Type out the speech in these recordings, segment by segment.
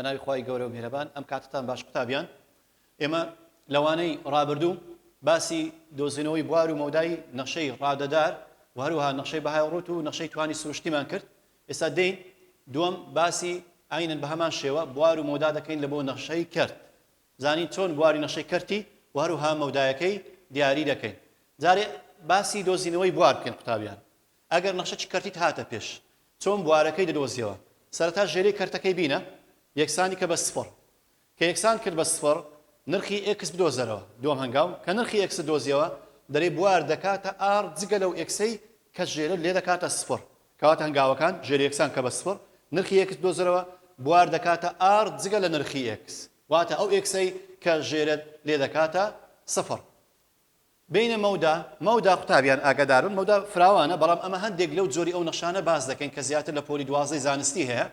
بەناوی خی گەورە و میرەبان ئەم کاتتان باش قوتابیان ئێمە لەوانەی ڕابردوو باسی دۆزینەوەی بوار و مەودای نەخشەی ڕادەدار و هەروها نەخشەی بەهای ڕوت و نەخشەی توانی سروشتیمان کرد ئێستا دێین دووەم باسی عەینەن بە هەمان شێوە بوار و مەودا دەکەین لە بۆ نەخشەی کەرت زانین چۆن بواری نەخشەی کەرتی و هەروها مەودایەکەی دیاری دەکەین جارێ باسی دۆزینەوەی بوار بکەین قوتابیان ئەگەر نەخشە چ کەرتیت هاتە پێش چۆن بوارەکەی دەدۆزیەوە سەرەتا ژێرەی کەرتەکەی بینە یەکسانی کە بە سفڕ کە یەکسان کرد بە سفڕ، نرخی ئێکس بدۆزەرەوە. دووەم هەنگاو، کە نرخی ئێکست دۆزیەوە، دەرێی بوار دەکاتە ئاڕ جگە لەو ئێکسەی کە ژێرت لێ دەکاتە سفڕ. کەواتە هەنگاوەکان، ژێری یەکسان کە بە سفڕ، نرخی ئێکس بدۆزەرەوە، بوار دەکاتە ئاڕ جگە لە نرخی ئێکس. واتە ئەو ئێکسەی کە ژێرت لێ دەکاتە سفڕ. بینە مەودا، مەودا قوتابیان ئاگاداربن مەودا فراوانە بەڵام ئەمە هەندێک لەو جۆری ئەو نەخشانە باس دەکەین کە زیاتر لە پۆلی دوازدەی زانستی هەیە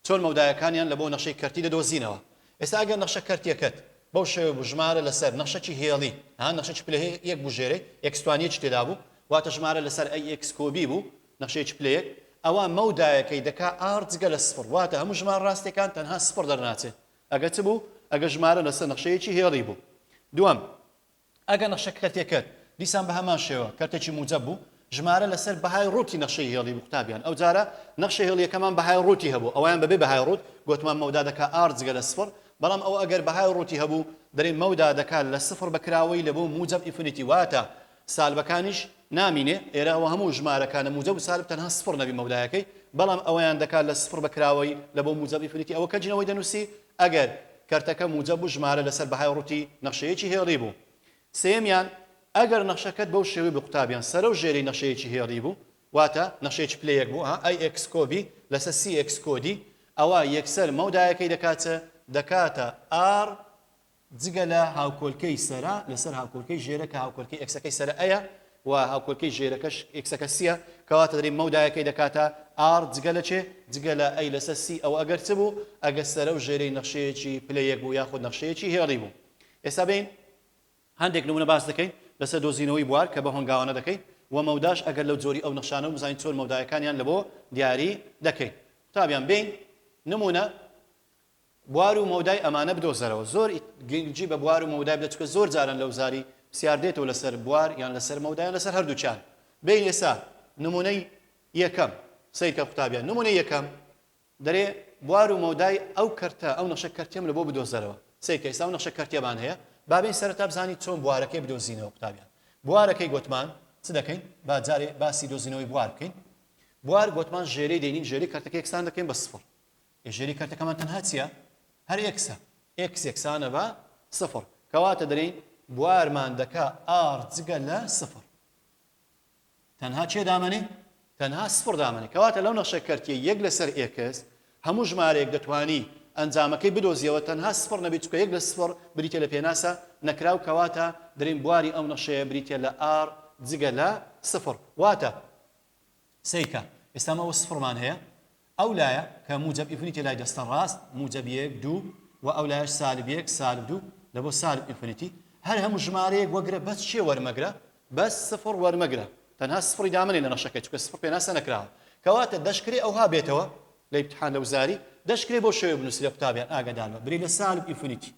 چۆن مەودایەکانیان لە بۆ نەخشەی کەرتی دەدۆزینەوە ئێستا ئەگەر نەخشە کەرتیەکەت بەو شێوەیە بوو ژمارە لەسەر نەخشەکی هێڵی ها نەخشەکی پلە یەک بوو ژێرەی ئێکستوانیەکی تێدا بوو واتە ژمارە لەسەر ئەی ئێکس کۆبی بوو نەخشەیەکی پلە یەک ئەوا مەودایەکەی دەکا ئاڕ جگە لە سفڕ واتە هەموو ژمار ڕاستەکان تەنها سفڕ دەرناچێت ئەگەر چ بوو ئەگەر ژمارە لەسەر نەخشەیەکی هێڵی بوو دووەم ئەگەر نەخشە کەرتێکەت دیسان بەهەمان شێوە کەرتێکی موجەب بوو ژمارە لەسەر بەهای ڕووتی نەخشەی هێڵی بوو قوتابیان ئەوجارە نەخشە هێڵیەکەمان بەهای ڕووتی هەبوو ئەوەیان بەبێ بەهای ڕووت گۆتمان مەودا دەکا ئار جگە لە سفڕ بەڵام ئەوە ئەگەر بەهای ڕووتی هەبوو دەرێ مەودا دەکا لە سفڕ بە کراوەی لە بۆ موجەب ئینفینیتی واتە سالبەکانیش نامینێ ئێرە ئەوە هەموو ژمارەکانە موجەب و سالب تەنها سفڕ نەبی مەودایەکەی بەڵام ئەوەیان دەکا لە سفڕ بە کراوەی لە بۆ موجەب ئینفینیتی ئەوە کەجنەوەی دەنووسی ئەگەر کەرتەکە موجەب و ژمارە لەسەر بەهای ڕووتی نەخشەیەکی هێڵی بوو. سێیەمیان، ئەگەر نەخشەکەت بەو شێوەی بوو قوتابیان سەرەو ژێری نەخشەیەکی هێڵی بوو، واتە نەخشەیەکی پلەیەک بوو، ئەها، ئەی ئێکس کۆ بی لەسەر سی ئێکس کۆ دی، ئەوا یەکسەر مەودایەکەی دەکات چ؟ دەکاتە ئاڕ جگە لە هاوکۆلکەی سەرە لەسەر هاوکۆلکەی ژێرە کە هاوکۆلکەی ئێکسەکەی سەرە ئەیە و هاوکۆلکەی ژێرەکەش ئێکسەکە سیە کەواتە دەریم مەودایەکەی دەکاتە ئار جگە لە چێ جگە لە ئەی لەسەر سی ئەو ئەگەر چ بوو ئەگەر سەرە و ژێرەی نەخشەیەکی پلە یەک بوو یاخود نەخشەیەکی هێڵی بوو ئێستا بین هەندێک نمونە باس دەکەین لەسەر دۆزینەوەی بوار کە بە هۆنگاوانە دەکەین و مەوداش ئەگەر لەو جۆری ئەو نەخشانە و بزانین چۆن مەودایەکانیان لە بۆ دیاری دەکەین قوتابیان بین نمونە بوار و مەودای ئەمانە بدۆزەرەوە زۆر گرنگی بە بوار و مەودای بدە چونکە زۆر جارن لە وزاری پرسیار دێتەوە لەسەر بوار یان لەسەر مەودا یان لەسەر هەردووکیان بێین ئێسا نمونەی یەکەم سەیرکە قوتابیان نمونەی یەکەم دەرێ بوار و مەودای ئەو کەرتە ئەو نەخشە کەرتیەم لە بۆ بدۆزەرەوە سەیرکە ئێستا ئەو نەخشە کەرتیەمان هەیە با بێین سەرەتا بزانین چۆن بوارەکەی بدۆزینەوە قوتابیان بوارەکەی گۆتمان چ دەکەین با جارێ باسی دۆزینەوەی بوار بکەین بوار گۆتمان ژێرەی دێنین ژێری کەرتەکە یەکسان دەکەین بە سفر هێژێری کەرتەکەمان تەنها چیە؟ هەر ئێکسە، ئێکس یەکسانە بە سفر، کەواتە دەلێین بوارمان دەکا ئاڕ جگە لە سفر تەنها کێ دامەنێ؟ تەنها سفر دامەنێ، کەواتە لەو نەخشە کەرتیە یەک لەسەر ئێکس هەموو ژمارەیەک دەتوانی ئەنجامەکەی بدۆزیەوە تەنها سفر نەبێ چونکە یەک لە سفر بریتیە لە پێناسە نەکراو کەواتە دەلێین بواری ئەو نەخشەیە بریتیە لە ئاڕ جگە لە سفر واتە سەیرکە ئێستا مە وە سفڕمان هەیە ئەو لایە کە موجەب ئینفنیتێ لای دەستە ڕاست موجەب یەک دوو و ئەو لایەش سالب یەک سالب دوو لە بۆ سالب ئینفنیتی هەر هەموو ژمارەیەک وەگرە بەس چێ وەرمەگرە بەس سفڕ وەرمەگرە تەنها سفڕی دامەنێ لە نەخشەکە چکە سفڕ پێناسە نەکراوە کەواتە دەشکرێ ئەوها بێتەوە لە ئیمتحان لە وزاری دەشکرێ بەو شێوەیە بنووسی لە قوتابیان ئاگادار بە برێ لە سالب ئینفنیتی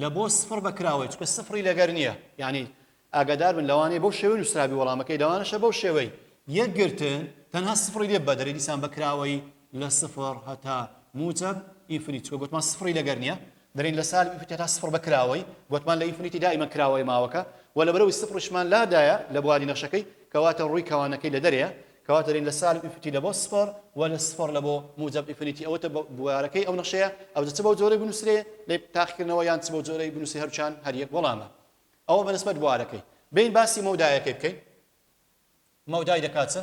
لە بۆ سفڕ بە کراوەی چکە سفڕی لەگەر نییە یعنی ئاگادار بن لەوانەیە بەو شێوەی نووسرابی وەڵامەکەی لەوانەشە بەو شێوەی یەکگرتن تەنها سفڕی لێ بەدەرێ دیسان بەکراوەی لە سفر هەتا موجب ئینفنیت چکە گوتمان سفڕی لەگەر نییە دەرین لە سال ئینفنیت هەتا سفر بەکراوەی گوتمان لە ئینفنیتی دائیمە کراوەی ماوەکە و لە بەرەوەی سفرشمان لادایە لە بواری نەخشەکەی کەواتە ڕووی کەوانەکەی لە دەرەیە کەواتەلین لە سالب ئیفنیتی لە بۆ سفڕ وە لە سفڕ لە بۆ موجەب ئیفنیتی ئەوەتە بوارەکەی ئەو نەخشەیە ئەوجە چ بەو جۆرەی بنوسرێ لە تاقیکردنەوە یان چ بەو جۆرەی بنوسرێ هەرچان هەر یەک وەڵامە ئەوە بە نسبەت بوارەکەی بین باسی مەودایەکەی بکەین مەودای دەکات چە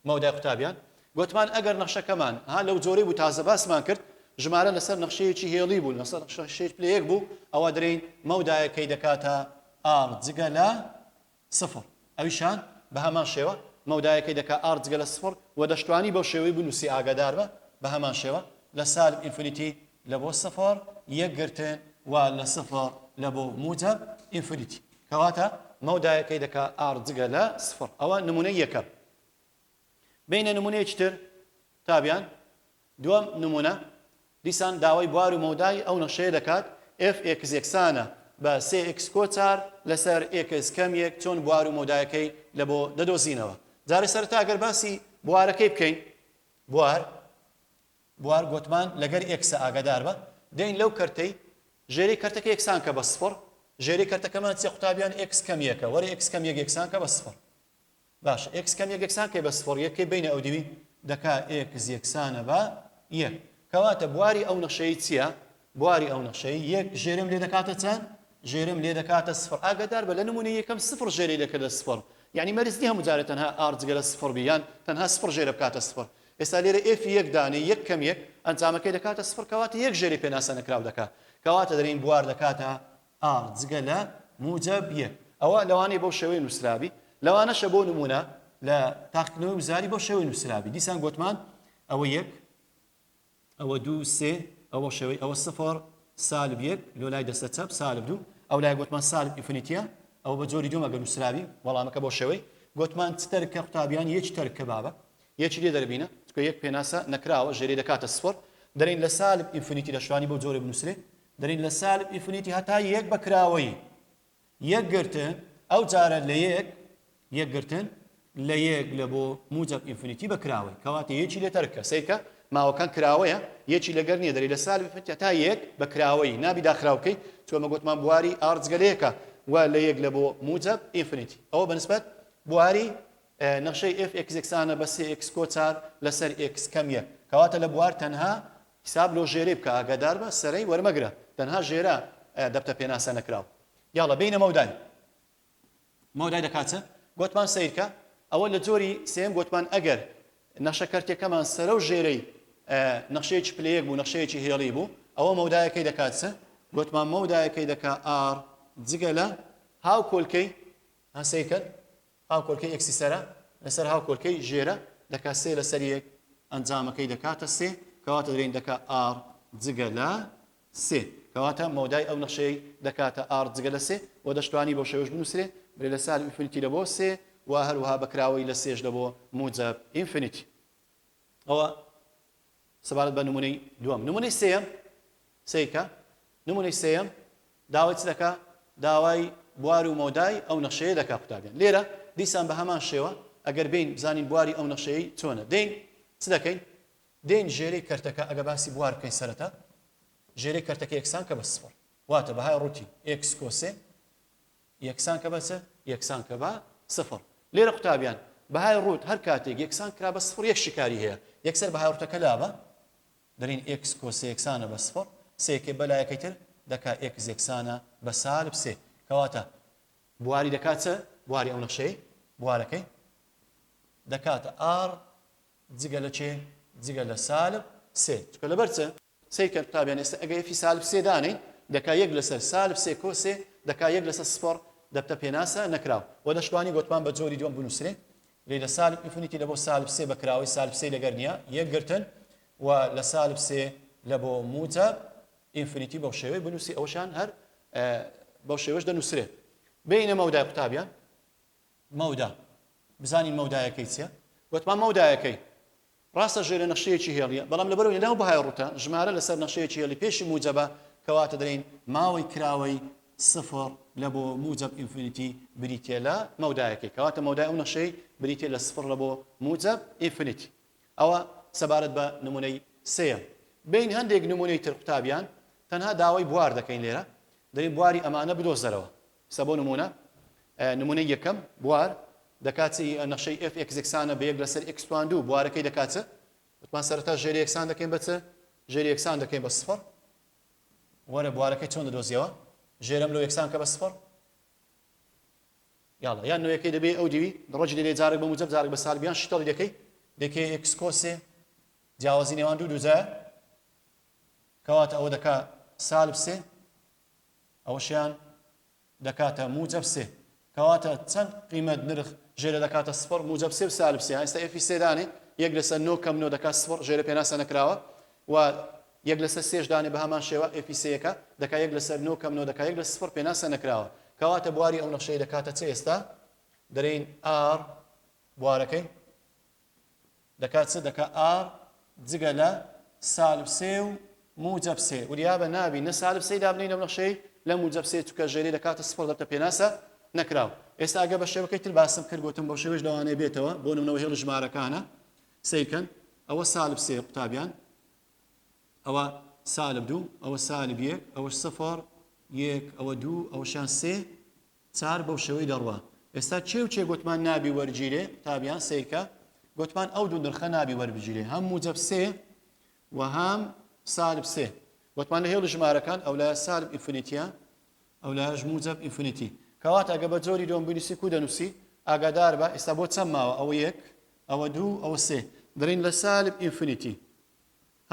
مەودای قوتابیان گوتمان ئەگەر نەخشەکەمان ها لەو جۆرەی بوو تازە باسمان کرد ژمارە لەسەر نەخشەیەکی هێڵی بوو لەسەر نەخشەیەک پلەیەک بوو ئەوە درین مەودایەکەی دەکاتە ئار جگە لە سفر ئەویشان بەهەمان شێوە مەودایەکەی دەکا ئاڕ جگە لە سفر وە دەشتوانی بەو شێوەی بنوسی ئاگاداربە بەهەمان شێوە لە سالب ئینفنیتی لە بۆ سفر یەک گرتن وە لە سفر لە بۆ موجەب ئینفنیتی کەواتە مەودایەکەی دەکا ئاڕ جگە لە سفر ئەوە نمونەی یەکەم. بینە نمونەیەکی تر تا بیان دووەم نمونە دیسان داوای بوار و مەودای ئەو نەخشەیە دەکات ئێف ئێکس یەکسانە بە سێ ئێکس کۆ چار لەسەر ئێکس کەم یەک چۆن بوار و مەودایەکەی لە بۆ دەدۆزینەوە جارێ سەرەتا گەر باسی بوارەکەی بکەین بوار بوار گۆتمان لەگەر ئێکسە ئاگادار بە دێین لەو کەرتەی ژێری کەرتەکە یەکسان کە بە سفڕ ژێری کەرتەکەمان چیە قوتابیان ئێکس کەم یەکە وەرە ئێکس کەم یەک یەکسان کە بە سفڕ باشە ئێکس کەم یەک یەکسان کەی بە سفڕ یەک کەی بەینە ئەودیوی دەکا ئێکس یەکسانە بە یەک کەواتە بواری ئەو نەخشەی چیە بواری ئەو نەخشەی یەک ژێرم لێ دەکاتە چەند ژێرم لێ دەکاتە سفڕ ئاگدار بە لە نمونە یەکەم سفڕ ژێری دەکردە سفڕ یعنی مەرج نیە هەموو جارێ تەنها ئاڕ جگە لە سفڕ بی یان تەنها سفڕ ژێرە بکاتە سفڕ ئێستا لێرە ئێفی یەک دانێ یەک کەم یەک ئەنجامەکەی دەکاتە سفڕ کەواتە یەک ژێری پێناسە نەکراو دەکا کەواتە دەرین بوار دەکاتە ئا جگە لە موجەب یە. ئەوە لەوانەیە بەو شێوەیە نووسرابی، لەوانەشە بۆ نموونە لە تاقیکردنەوەی وزاری بەو شێوەیە نووسرابی، دیسان گۆتمان ئەوە یەک، ئەوە دوو، سێ، ئەوە شێوەی، ئەوە سفر، سالب یەک، لۆ لای دەستە چەپ، سالب دوو، ئەو لای گۆتمان سالب ئینفنیتیە، ئەوە بە جۆری دووەم ئەگەر نووسرابی، وەڵامەکە بۆ شێوەی، گۆتمان چ تەرکە قوتابیان یەکی تەرک کە بابە، یەکی لێ دەربینە، چونکە یەک پێناسە نەکراوە، ژێرەی دەکاتە سفر، دەلێین لە سالب ئینفنیتی لە شوانی بەو جۆرە بنووسرێ، دەرین لە سالب ئینفینیتی هەتا یەک بە کراوەیی یەک گرتن ئەو جارە لە یەک یەک گرتن لە یەک لە بۆ موجب ئینفینیتی بە کراوەی کەواتە یەکی لێ تەرکە سیرکە ماوەکان کراوەیە یەکی لەگەر نییە دەری لە سالب ئینفینیتی هەتا یەک بە کراوەیی نابی داخراو بکەی چۆمە گوتمان بواری ئار جگە لە یەکە و لە یەک لە بۆ موجب ئینفینیتی ئەوە بەنسبەت بواری نەخشەی ئێف ئێکس یەکسانە بە سێ ئێکس کۆ چار لەسەر ئێکس کەم یەک کەواتە لە بوار تەنها حساب لۆ ژێرەی بکە ئاگاداربە سەرەی وەرمەگرە تەنها ژێرە دەبتە پێناسە نەکراو یاڵە بینە مەودای مەودای دەکات چ گۆتمان سەیرکە ئەوە لە جۆری سێم گۆتمان ئەگەر نەخشە کەرتیەکەمان سەرە و ژێرەی نەخشەیەکی پلەیەک بوو نەخشەیەکی هێڵی بوو ئەوە مەودایەکەی دەکات چ گۆتمان مەودایەکەی دەکا ئار جگە لە هاو کۆلکەی هەسەیکەن هاوکۆلکەی ئێکسی سەرە لەسەر هاوکۆلکەی ژێرە دەکا سێ لەسەر یەک ئەنجامەکەی دەکاتە سێ کەواتە درێن دەکا ئاڕ جگە لە سێ کەواتە مەودای ئەو نەخشەی دەکاتە ئاڕ جگە لە سێ و دەشتوانی بۆ شێوەش بنووسرێ برێ لە سال ئینفینیتی لە بۆ سێ و هەروها بەکراوەی لە سێش لە بۆ موجەب ئینفینیتی ئەوە سەبارەت بە نمونەی دووەم نمونەی سێم سیکە نمونەی سێم داوای چ دەکا داوای بوار و مۆدای ئەو نەخشەیە دەکا قوتابیان لێرە دیسان بە هەمان شێوە ئەگەر بین بزانین بواری ئەو نەخشەیە چۆنە دین چ دەکەین دین ژێری کەرتەکە ئەگە باسی بوار بکەین سەرەتا ژێری کەرتەکە یەکسان کە بە سفر واتە بەهای ڕووتی ئکس کۆسێ یەکسان کە بە چ؟ یەکسان کە بە سفر. لێرە قوتابیان، بەهای ڕووت هەر کاتێک یەکسان کرا بە سفر یەک شیکاری هەیە، یەکسەر بەهای ڕووتەکە لابە، دەلین ئێکس کۆس سێ یەکسانە بە سفر، سێ یەکەی بە لایەکەی تر دەکا ئێکس یەکسانە بە سالب سێ. کەواتە بواری دەکا چ؟ بواری ئەو نەخشەی بوارەکەی دەکاتە ئاڕ جگە لە کێ؟ جگە لە سالب سێ. چونکە لەبەر چ؟ سەیر کەن قوتابیان ئێستا ئەگەر ئێفی سالب سێ دانێی دەکا یەک لەسەر سالب سێ کۆ سێ دەکا یەک لەسەر سفڕ دەبتە پێناسە نەکراو وە دەشتوانی گۆتمان بە جۆری دووەم بنوسرێ لێ لە سالب ئینفینیتی لە بۆ سالب سێ بە کراوەی سالب سێی لەگەر نیە یەک گرتن و لە سالب سێ لە بۆ موجەب ئینفینیتی بەو شێوەی بنوسی ئەوەشان هەر بەو شێوەش دەنوسرێ بێینە مەودای قوتابیان مەودا، بزانین مەودایەکەی چیە؟ وتمان مەودایەکەی ڕاستە ژێرە نەخشەیەکی هێڵیە، بەڵام لەبەر ئەوەی لەناو بەهای ڕووتە، ژمارە لەسەر نەخشەیەکی هێڵی پێشی موجەبە، کەواتە دەلێین ماوەی کراوەی سفر لە بۆ موجەب ئینفینیتی بریتیە لە مەودایەکەی، کەواتە مەودای ئەو نەخشەی بریتیە لە سفر لە بۆ موجەب ئینفینیتی. ئەوە سەبارەت بە نمونەی سێیەم. بێین هەندێک نمونەی تر قوتابیان، تەنها داوای بوار دەکەین لێرە، دەلێین بواری ئەمانە بدۆزەرەوە. سە بۆ نموونە نموونەی یەکەم بوار دەکا چ ی نەخشەی ئێف ئێکس یەکسانە بە یەک لەسەر ئێکس توان دوو بوارەکەی دەکا چ؟ وتمان سەرەتا ژێر یەکسان دەکەین بە چ؟ ژێر یەکسان دەکەین بە سفر وەرە بوارەکەی چۆن دەدۆزیەوە؟ ژێرەم لۆ یەکسان کە بە سفر یاڵە یان نوێەکەی دەبێ ئەو دیوی دڕۆجی دەبێ جارێک بە موجب جارێک بە سالبیان شتەڵی دەکەی دەکەی ئێکس کۆسێ جیاوازی نێوان دوو دووجە کەواتە ئەوە دەکا سالب سێ ئەوەشیان دەکاتە موجەب سێ کەواتە چەند قیمەت نرخ ژێرە دەکاتە سفڕ موجەب سێ و سالب سێ ئێستا ئێفی سێ دانێ یەک لەسەر نۆ کەم نۆ دەکات سفڕ ژێرە پێناسە نەکراوە و یەک لەسەر سێش دانێ بە هەمان شێوە ئێفی سێیەکە دەکا یەک لەسەر نۆ کەم نۆ دەکا یەک لە سفڕ پێناسە نەکراوە کەواتە بواری ئەو نەخشەی دەکاتە چ ئێستا دەرین ئار بوارەکەی دەکا چ دەکا ئار جگە لە سالب سێ و موجب سێ وریابە نابی نە سالب سێی دابنێی لەم نەخشەی نە موجب سێ چونکە ژێری لە کاتە سفڕ دەبتە پێناسە نەکراو ئێستا ئەگە بە شێوەکەی تر باسم کرد گوتم بەو شێوەش لەوانەیە بێتەوە بۆ نمونەوە هێڵی ژمارەکانە سیرکەن ئەوە سالب سێ قوتابیان ئەوە سالب دوو ئەوە سالب یەک ئەوە سفر یەک ئەوە دوو ئەوەشان سێ چار بەو شێوەی دەڕوا. ئێستا کێ و کێ گۆتمان نابی وەرگیرێ قوتابیان سەیرکە گۆتمان ئەو دوو نرخە نابی وەربگیرێ هەم موجەب سێ و هەم سالب سێ گۆتمان لە هێڵی ژمارەکان ئەو لایە سالب ئینفینیتیە ئەو لایەش موجەب ئینفینیتی کەواتە گە بە جۆری دۆم بنووسی کو دەنووسی ئاگادار بە ئێستا بۆ چەم ماوە ئەوە یەک ئەوە دوو ئەوە سێ دەڵین لە سالب ئینفینیتی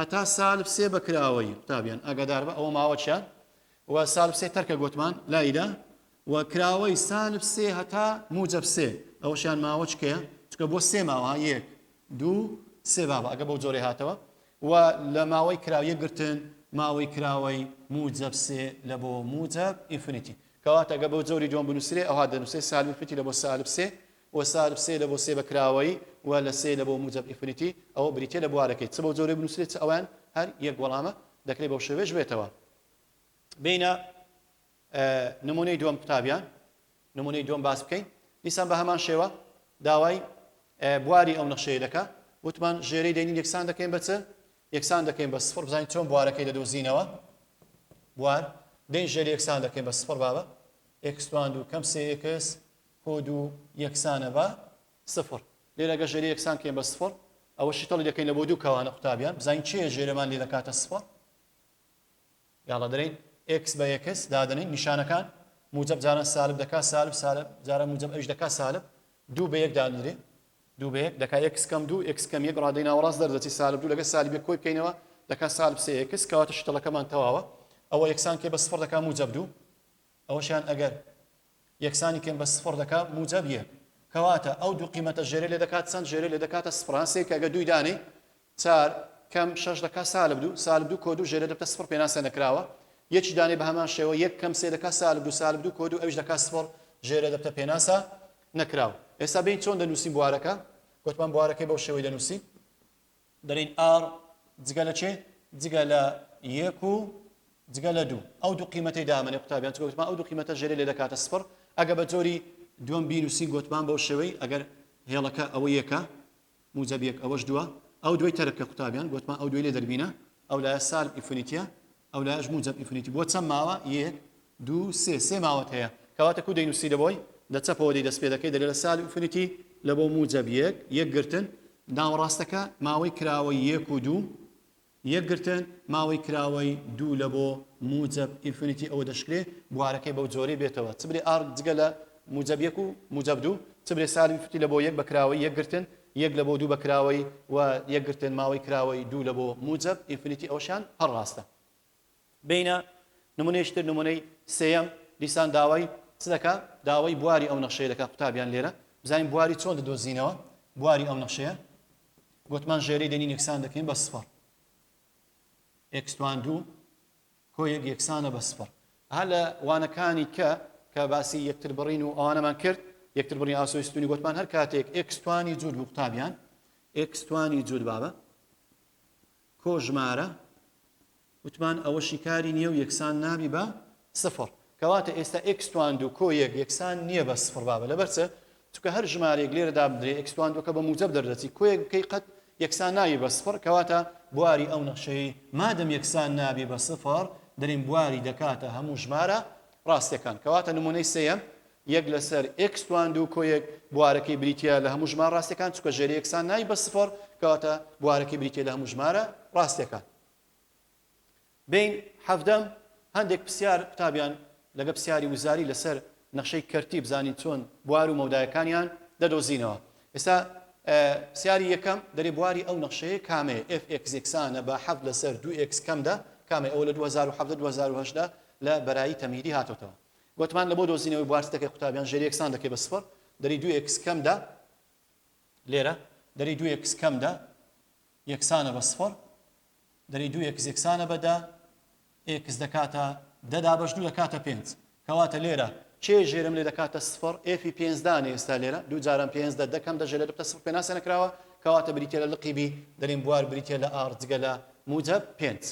هەتا سال بسێ بە کراوەی قوتابیان ئاگادار بە ئەوە ماوە چە و سال بسێ تەرکە گۆتمان لایدا و کراوەی سال بسێ هەتا موجە بسێ ئەوشان ماوە چکەیە چکە بۆ سێ ماوە یەک دوو سێ بابە ئەگە بەو جۆرە هاتەوە و لە ماوەی کراویە گرتن ماوەی کراوەی موجەب سێ لە بۆ موجەب ئینفینیتی کەواتەگە بەو جۆری جۆن بنووسێ ئەوها دەنووسێ سالفیتی لە بۆ سالب سێ و سالب سێ لە بۆ سێ بە کراوەیی و لە سێ لە بۆ موجەب ئینفینیتی ەوە بریتیە لە بوارەکەی چ بەو جۆرەی بنوسرێت چ ئەوەیان هەر یەک وەڵامە دەکرێت بەو شێوەیەش بێتەوە بێینە نمونەی دووەم قوتابیان نمونەی دووەم باس بکەین دیسان بە هەمان شێوە داوای بواری ئەو نەخشەیە دەکە وتمان ژێرەی دەینی یەکسان دەکەین بە چ یەکسان دەکەین بە سفر بزانین چۆن بوارەکەی دەدۆزینەوە بوار دەین ژێر یەکسان دەکەین بە سفر بابە ئێکسوان دوو کەم سێ ئێکس کۆد و یەکسانە بە سفر. لێرە گەر ژێرە یەکسان کەین بە سفر ئەوە شیتەڵی دەکەین لە بۆ دوو کەوانە قوتابیان بزانین چێ ژێرەمان لێ دەکاتە سفر یاڵە دەرین ئکس بە یەکس دادنین نیشانەکان موجب جاران سالب دەکا سالب سالب جارە موجب ئەوش دەکا سالب دوو بە یەک دادنرێ دوو بە یەک دەکا ئکس کەم دوو ئکس کەم یەک ڕادەی ناوەڕاست دەردەچی سالب دوو لەگە سالبێ کۆی بکەینەوە دەکا سالب سێ ئکس کەواتە شتەڵەکەمان تەواوە ئەوە یەکسان کێ بە سفر دەکا موجب دوو ئەوەشیان ئەگەر یەکسانی کەین بە سفڕ دەکا موجەب یەک کەواتە ئەو دوو قیمەتە ژێرێ لێ دەکات چەند ژێرێ لێ دەکاتە سفڕ ها سێ کە گە دووی دانێی چار کەم شەش دەکا سالب دوو سالب دوو کۆ دوو ژێرێ دەبتە سفڕ پێناسە نەکراوە یەکی دانێ بە هەمان شێوە یەک کەم سێ دەکا سالب دوو سالب دوو کۆ دوو ئەویش دەکا سفڕ ژێرێ دەبتە پێناسە نەکراوە ئێستا بین چۆن دەنووسین بوارەکە گوتمان بوارەکەی بەو شێوەی دەنووسین دەلین ئاڕ جگە لە چێ؟ جگە لە یەک و جگە لە دوو ئەو دوو قیمەتەی دامەنێ قوتابیان چ گوتمان ئەو دوو قیمەتە ژێرێ لێ دەکاتە سفڕ ئەگە بە جۆری دووەم بینووسین گوتمان بەو شێوەی ئەگەر هێڵەکە ئەوە یەکە موجەب یەک ئەوەش دووە ئەو دووەی تەرک کە قوتابیان گوتمان ئەو دووەی لێ دەربینە ئەو لایە سالب ئینفینیتیە ئەو لایەش موجەب ئینفینیتی بووە چەند ماوە؟ یەک دوو سێ سێ ماوەت هەیە کەواتە کوو دەینووسی لە بۆی لە چەپەوە دەی دەست پێ دەکەی دەگە لە سالب ئینفینیتی لە بۆ موجەب یەک یەک گرتن ناوەڕاستەکە ماوەی کراوەی یەک و دوو یەک گرتن ماوەی کراوەی دوو لە بۆ موجەب ئینفینیتی ئەوە دەشکرێ بوارەکەی بەو جۆرەی بێتەوە چ برێ ئار جگە لە موجەب یەک و موجەب دوو چ برێ سالب ئینفینیتی لە بۆ یەک بە کراوەی یەک گرتن یەک لە بۆ دوو بە کراوەی و یەکگرتن ماوەی کراوەی دوو لە بۆ موجەب ئینفینیتی ئەوەشیان هەر ڕاستە. بینە نمونەیەکی تر نمونەی سێیەم دیسان داوای چ دەکا داوای بواری ئەو نەخشەیە دەکا قوتابیان لێرە بزانین بواری چۆن دەدۆزینەوە بواری ئەو نەخشەیە گۆتمان ژێرەی دێنین یەکسان دەکەین بە سفر ئێکس توان دوو کۆ یەک یەکسانە بە سفر. هەر لە وانەکانی کە کە باسی یەکتر بڕین و ئەوانەمان کرد، یەکتر بڕین ئاسۆی ستوونی گۆتمان هەر کاتێک ئێکس توانی جووت بوو قوتابیان، ئێکس توانی جووت با بە کۆ ژمارە، وتمان ئەوە شیکاری نییە و یەکسان نابی بە سفر. کەواتە ئێستا ئێکس توان دوو کۆ یەک یەکسان نییە بە سفر با بە لەبەر چ؟ چونکە هەر ژمارەیەک لێرە دابدرێ ئێکس توان دووەکە بە موجەب دەردەچی کۆیەک بکەی قەت یەکسان نابی بە سفڕ کەواتە بواری ئەو نەخشەی مادەم یەکسان نابی بە سفڕ دەریم بواری دەکاتە هەموو ژمارە ڕاستەکان کەواتە نمونەی سێەم یەک لەسەر ئێکس توان دوو کۆیەک بوارەکەی بریتە لە هەموو ژمار ڕاستەکان چکە ژێر یەکسان نای بە سفڕ کەواتە بوارەکەی بریتە لە هەموو ژمارە ڕاستەکان بین حەڤدەم هەندێک پسیار قوتابیان لەگە پسیاری وزاری لەسەر نەخشەی کەرتی بزانین چۆن بوار و مەودایەکانیان دەدۆزینەوە ئێستا پسیاری یەکەم دەرێ بواری ئەو نەخشەیە کامەیە ئێف ئێکس یەکسانە بە حەڤد لەسەر دوو ئێکس کەم دە کامەی ئەوە لە 2017 2010 لە بەرایی تەمهیدی هاتۆتەوە گوتمان لە بۆ دۆزینەوەی بوارچ دەکەی قوتابیان ژێر یەکسان دەکەی بە سفر دەری دوو ئێکس کەم دە لێرە دەری دوو ئێکس کەم دە یەکسانە بە سفر دەری دوو ئێکس یەکسانە بە دە ئێکس دەکاتە دە دابەش دوو دەکاتە پێنج کەواتە لێرە کێ ژێرم لێ دەکاتە سفر ئێفی پێنج دانێ ئێستا لێرە دوو جارم پێنج دە دەکەم دە ژێرە بتە سفر پێناسە نەکراوە کەواتە بریتە لە لقی بی دەریم بوار بریتە لە ئار جگە لە موجب پێنج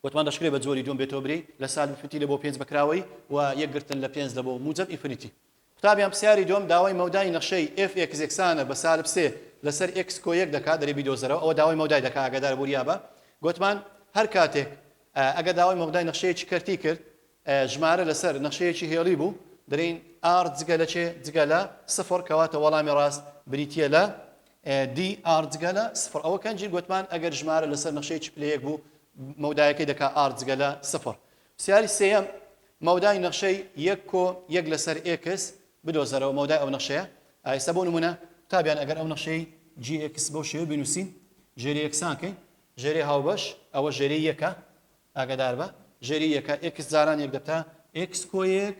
وتمان دەشکرێ بە جۆری دوم بێتەوە بری لە سالب فتی لە بۆ پێنج بەکراوەی و یەکگرتن لە پێنج لە بۆ موجب ئیفریتی قوتابی یان پسیاری دووەم داوای مەودای نەخشەی ئێف ئێکس یەکسانە بە سالب سێ لە سەر ئێکس کۆ یەک دەکات دەرێ بیدۆزەرەوە ئەوە داوای مەودای دەکات ئاگادار بە وریا بە گۆتمان هەر کاتێک ئەگەر داوای مەودای نەخشەیەکی کەرتی کرد ژمارە لە سەر نەخشەیەکی هێڵی بوو دەرێین ئار جگە لە چێ جگە لە سفر کەواتە وەڵامی ڕاست بریتیە لە دی ئار جگە لە سفر ئەوە کەنجی گۆتمان ئەگەر ژمارە لە سەر نەخشەیەکی پلەیەک بوو مەودایەکەی دەکات ئار جگە لە سفر پرسیاری سێیەم، مەودای نەخشەی یەک کۆ یەک لەسەر ئێکس بدۆزەرەوە، مەودای ئەو نەخشەیە ئایسە، بۆ نموونە قوتابیان ئەگەر ئەو نەخشەی جی ئێکس بەو شێوەیە بینووسین، ژێری یەکسان کەین، ژێری هاوبەش، ئەوە ژێری یەکە، ئاگاداربە ژێری یەکە، ئێکس جاران یەک دەبتە ئێکس کۆ یەک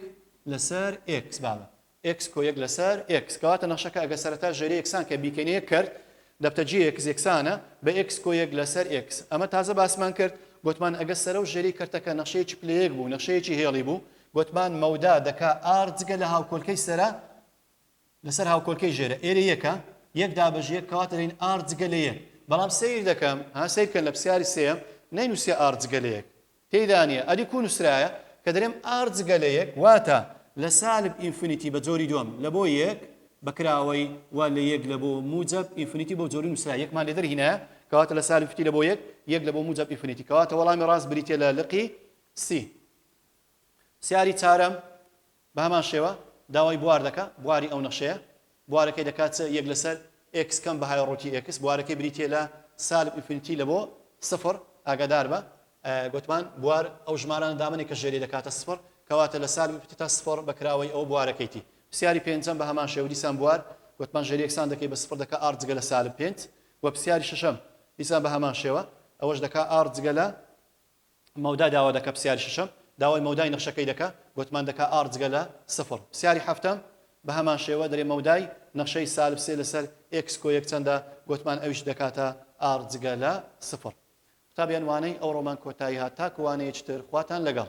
لەسەر ئێکس، بابە ئێکس کۆ یەک لەسەر ئێکس. کەواتە نەخشەکە ئەگەر سەرەتا ژێرە یەکسانکە بیکەینە یەک کەرت، دەبتە جی ئێکس یەکسانە بە ئێکس کۆ یەک لەسەر ئێکس. ئەمە تازە باسمان کرد، گۆتمان ئەگەر سەرە و ژێرەی کەرتەکە نەخشەیەکی پلە یەک بوو، نەخشەیەکی هێڵی بوو، گۆتمان مەودا دەکا ئاڕ جگە لە هاوکۆلکەی سەرە لەسەر هاوکۆلکەی ژێرە. ئێرە یەکە، یەک دابەشی یەک، کەواتە دەین ئاڕ جگە لە یەک. بەڵام سەیر دەکەم، ها سەیر بکەن لە پرسیاری سێیەم نەینووسیە ئاڕ جگە لە یەک. تێیدا نیە ئەدی کوو نوسرایە کە دەرێم ئار جگە لە یەک؟ واتە لە سالب ئینفینیتی بە جۆری دووەم لە بۆ یەک بە کراوەی و لە یەک لە بۆ موجەب ئینفینیتی بەو جۆری نوسرا یەکمان لێ دەرهینایە کەواتە لە سالب فتی لە بۆ یەک یەک لە بۆ موجەب ئینفینیتی کەواتە وەڵامی ڕاست بریتیە لە لقی سی. پرسیاری چارەم. بە هەمان شێوە داوای بوار دەکا، بواری ئەو نەخشەیە بوارەکەی دەکا چ یەک لەسەر ئێکس کەم بە های ڕووتی ئێکس بوارەکەی بریتیە لە سالب ئینفینیتی لە بۆ سفر ئاگادار بە گۆتمان بوار ئەو ژمارانە دامەنێ کە ژێری دەکاتە سفر کەواتە لە سالب ئینفینیتی تا سفر بە کراوەی ئەو بوارەکەیتی پرسیاری پێنجەم بە هەمان شێوە دیسان بوار گۆتمان ژێری یەکسان دەکەی بە سفر دەکا ئاڕ جگە لە سالب پێنج وە پرسیاری شەشەم دیسان بە هەمان شێوە ئەوەش دەکا ئاڕ جگە لە مەودا داوا دەکا پسیاری شەشەم داوای مەودای نەخشەکەی دەکا گۆتمان دەکا ئاڕ جگە لە سفڕ پسیاری حەفتەم بە هەمان شێوە دەرێ مەودای نەخشەی سالب سێ لەسەر ئێکس کۆ یەک چەندە گۆتمان ئەویش دەکاتە ئاڕ جگە لە سفڕ قوتابیان وانەی ئەوڕۆمان کۆتایی هات تاکو وانەیەکی تر خواتان لەگەڵ.